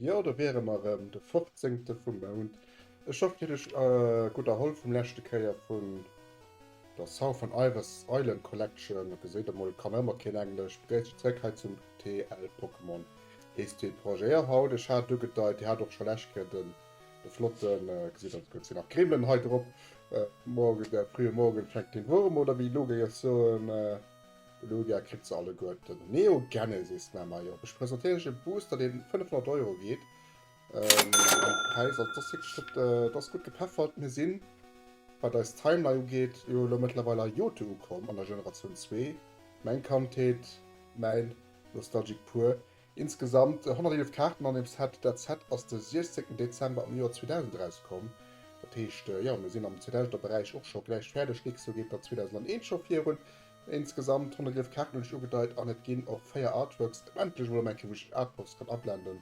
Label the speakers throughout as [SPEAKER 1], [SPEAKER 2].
[SPEAKER 1] Jo, do wiere mer erëm, de 15. vum Mount. Ech hoffen, dir hutt iech gutt erholl vum leschte Kéier vun. Der Southern Iris Island Collection, geséit emol kann ëmmer keen englesch, begréisst iech zréck hei zum TL Pokémon heesst déi Projeer haut. Ech hat ugedeit, dir hat och scho lescht Kéier den de flotten, geséit aus gëtt se nach Kribbelen hei drop, Morgen, der frühe Morgen fängt den Wurm oder wéi Lugia soen, de Lugia kritt se alleguerten. Neo Genesis, majo, ech presentéieren iech e Booster deen 500 Euro geet, Ähm, Päis, also das wirklich, äh, das gut gepeffert. Mir sinn, wat eis Timeline ugeet, jo lo mëttlerweil a Jote ukomm, an der Generatioun 2. Mäin Kandheet, mäin Nostalgic pur. Insgesamt 111 Kaarten an dem Set. Dat Set ass de 16 Dezember am Joer 2000 erauskomm. Dat heescht, jo, mir sinn am 2000er Beräich och scho gläich fäerdeg. Dicks jo geet dann 2001 scho virun. Insgesamt 111 Kaarten hunn ech ugedeit, an et ginn och 4 Artworks. Endlech emol elo eng Kéier, wou ech Artworks kann ablenden.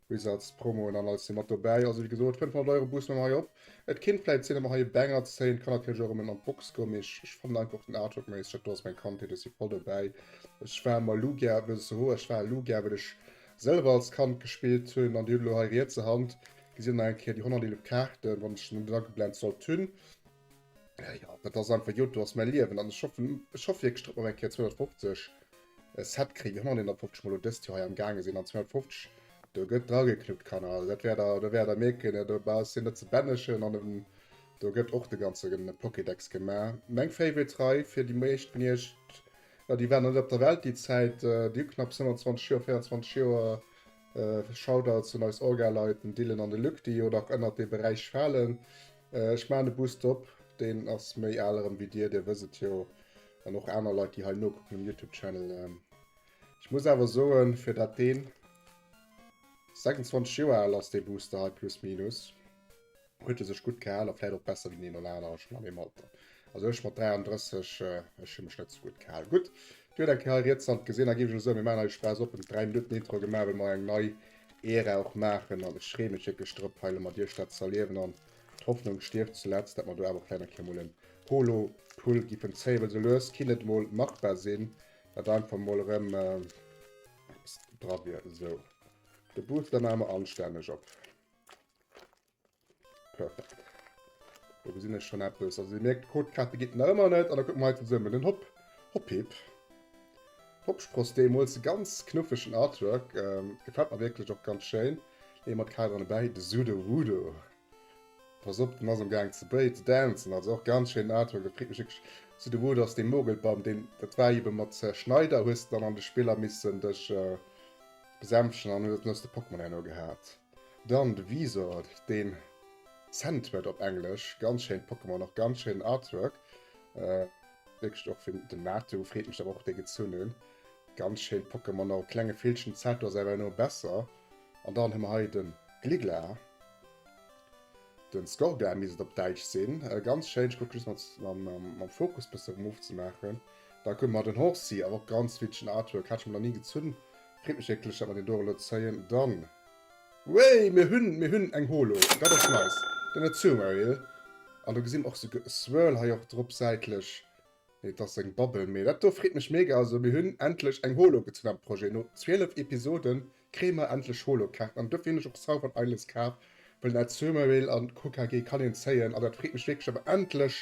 [SPEAKER 1] Bis als Promo un an als si mat dobäi. Also wéi gesot 500 Euro bussen mer hei op. Et kinnt vläit sinn datt mer hei e Banger zéien. Et kann natierlech och rëm en an d'Box goen, mee ech fannen einfach och den Artwork méisseg. Dat do ass meng Kandheet, ech si voll dobäi. Ech war emmer Lugia vs Sehoa, ech war Lugia well ech selwer als Kand gespillt hunn. An dir hutt elo hei riets a Hand, gesitt der nach eng Kéier déi 111 Kaarten, wann ech net ageblenzt sollt hunn. Ja, ja, dat ass einfach Jod, do ass mäi Liewen an ech hoffen, ech hoff wierklech, datt mer eng Kéier 250 e Set kréien, déi 151 mol lo dëst Joer hei am gaange sinn an 250 do gëtt drageknuppt, Kanner. Also dat wäert der, do wäert der mierken, jo do bass hien net ze bännechen an em do gëtt och de ganze Pokédex gemaach. Meng Favorite Rei fir déi meescht vun iech, jo déi waren nach net op der Welt déi Zäit, déi hu knapps 25 Joer, 24 Joer. Shoutouts un eis Orga-Leit, den Dylan an de Luc, déi jo nach ënnert dee Beräich falen. Ech maan e Boost op, deen ass méi aal erem wéi dir, dir wësst et jo, an och aaner Leit déi hei nokucken um Youtube Channel. Ech muss awer soen fir dat deen 26 Joer aal ass dee Booster hei plus minus, huet e sech gudd gehaal a vläit och besser wéi den een oder aanere schon an deem Alter. Also ech mat 33, ech hu mech net sou gudd gehaal. Gudd, Dir huet eng Kéier hei riets Hand gesinn, da ginn ech elo soen, mir maachen hei e Spaass op, en 3 Minutten Intro gemaach, well mer eng nei Ära och maachen an ech freeë mech wierklech drop hei elo mat iech dat z'erliewen an d'Hoffnung stierft zuletzt, dat mer do awer och vläit eng Kéier mol en Polo-Pull giffen zéien, well sou lues kinnt et mol machbar sinn, dat einfach mol erëm eppes dra wier. Esou, de Booster maache mer anstänneg op. Perfekt. Do gesinn ech schon eppes. Also, Dir mierkt, d'Codekarte geet nach ëmmer net. An da kucken mer hei zesummen den Hopp, Hoppip. Hoppspross deemools. E ganz knuffegen Artwork. Gefält mer wierklech och ganz schéin. Leeë mer d'Kaderen dobäi. De Sudowoodo. Pass op, den ass am Gaang ze dancen. Also och ganz schéinen Artwork. Dat freet mech wierklech. Sudowoodo ass dee Mogelbaum, deen, dat war ebe mat Schneider, hues de dann an de Spiller missen dech besänftegen an hues de Pokémon herno gehat. Dann de Visor, den Cent huet op Englesch. Ganz schéint Pokémon, och ganz schéinen Artwork. Wierklech och fir den Natu. Freet mech awer och dee gezunn hunn. Ganz schéint Pokémon, och e klenge Villchen. Zato ass awer herno besser. An dann hu mer hei den Gliggla, den Skorgla misst et op Däitsch sinn. Ganz schéin, ech kucken just mam mam Fokus bessen erem ofzemaachen. Dann hu mer den Horsea, awer och ganz Villchen Artwork. Hat ech mer nach ni gezunn, Freet mech wierklech dat mer deen doro lo zéien dann. Wéi! Mir hunn, mir hunn eng Holo! Dat ass nice! Den Azumarill. An do gesi mer och souguer e Swirl hei och drop säitlech. Nee, et ass seng Bubble. Mee dat do freet mech mega! Also mir hunn endlech eng Holo gezunn am Projet. No 12 Episode kréie mer endlech Holo-Kaarten. An dofir hunn ech och Southern Islands kaf, well den Azumarill an d'Hokage kann een zéien. An dat freet mech wierklech awer endlech!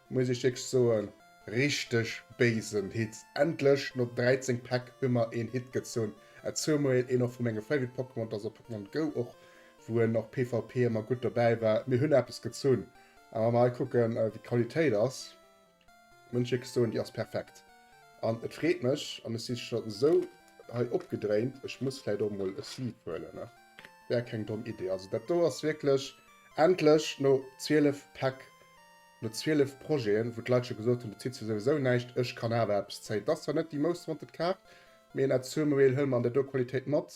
[SPEAKER 1] Muss ech iech soen, richteg béisen Hit! Endlech no 13 Päck hu mer een Hit gezunn, zoumoil een och vu menge Favorite Pokémon, dass a Pokémon Go och, wou en och PvP emmer gutt dobäi war, mir hunn eppes gezunn. A wa mer hei kucken wéi d'Qualitéit ass, muss ech iech soen, déi ass perfekt. An et freet mech, an ech si scho sou hei opgedréint, ech muss vläit och emol e Sleeve huelen, ne? Wär keng domm Idee. Also dat do ass wierklech, endlech no 12 Päck No 12 Projeten, wou d'Leit scho gesot hunn, du zitt se souwisou näischt, ech kann awer eppes zéien. Et ass zwar net déi most wanted Kaart, mee en Azurmobil hëll mer an der Do-Qualitéit mat.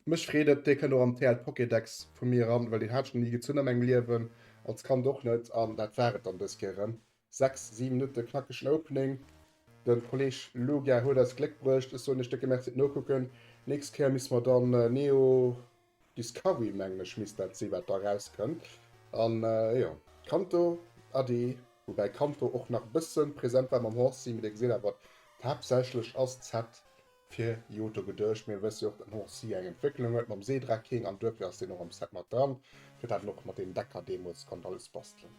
[SPEAKER 1] Mech freet et, dee kënnt och an TL Pokédex vu mir eran, well deen hat ech nach ni gezunn a mengem Liewen, als Kand och net. An dat war et dann dës Kéier erëm. 6, 7 Minutte knackegen Opening. De Kolleg Luga huet eis Gléck bruecht. Ech soen iech décke Merci fir d'Nokucken. Nächst Kéier misse mer dann Neo. Discovery mengen ech misst dat si wat da rauskënnt an jo Kanto Adi, woubäi Kanto och nach e bëssen präsent war mam Horsey, mee dee gesäit awer haaptsächlech ass Z fir Johto geduecht. Mir wësse jo och dat den Horsey eng Entwécklung huet mam Seedraking an duerfir ass deen och am Z mat dran fir dat en och mat deem Decker deemools konnt alles bastelen.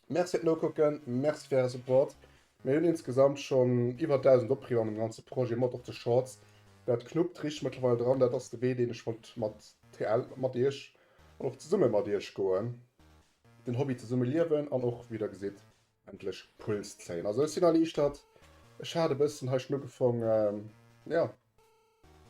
[SPEAKER 1] Merci fir d'Nokucken, merci fir äre Support Mir hunn insgesamt schonn iwwer 1.000 Opriwwer an dem ganze Projet mat op de Shorts. Dat knuppt richteg mëttlerweil dran. Dat ass de Wee, deen ech wollt mat TL, mat iech an och zesumme mat iech goen. Den Hobby zesumme liewen an och, wéi der gesitt, endlech Puls zéien. Also ech sinn erliichtert. Ech hat e bëssen hei schnuggefongen, jo.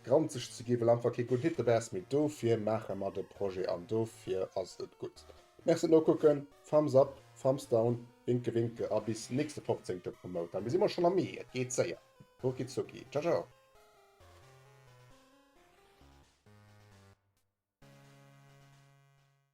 [SPEAKER 1] Granzeg ze ginn, well einfach kee gudden Hit dobäi ass, mee dofir maache mer de Projet an dofir ass et gutt. Merci fir d'Nokucken, Thumbs up, Thumbs down, Winke winke a bis nächste 15 Promote, dann gesi mer schonn am Mee, et geet séier, Rucki zucki, Ciao ciao.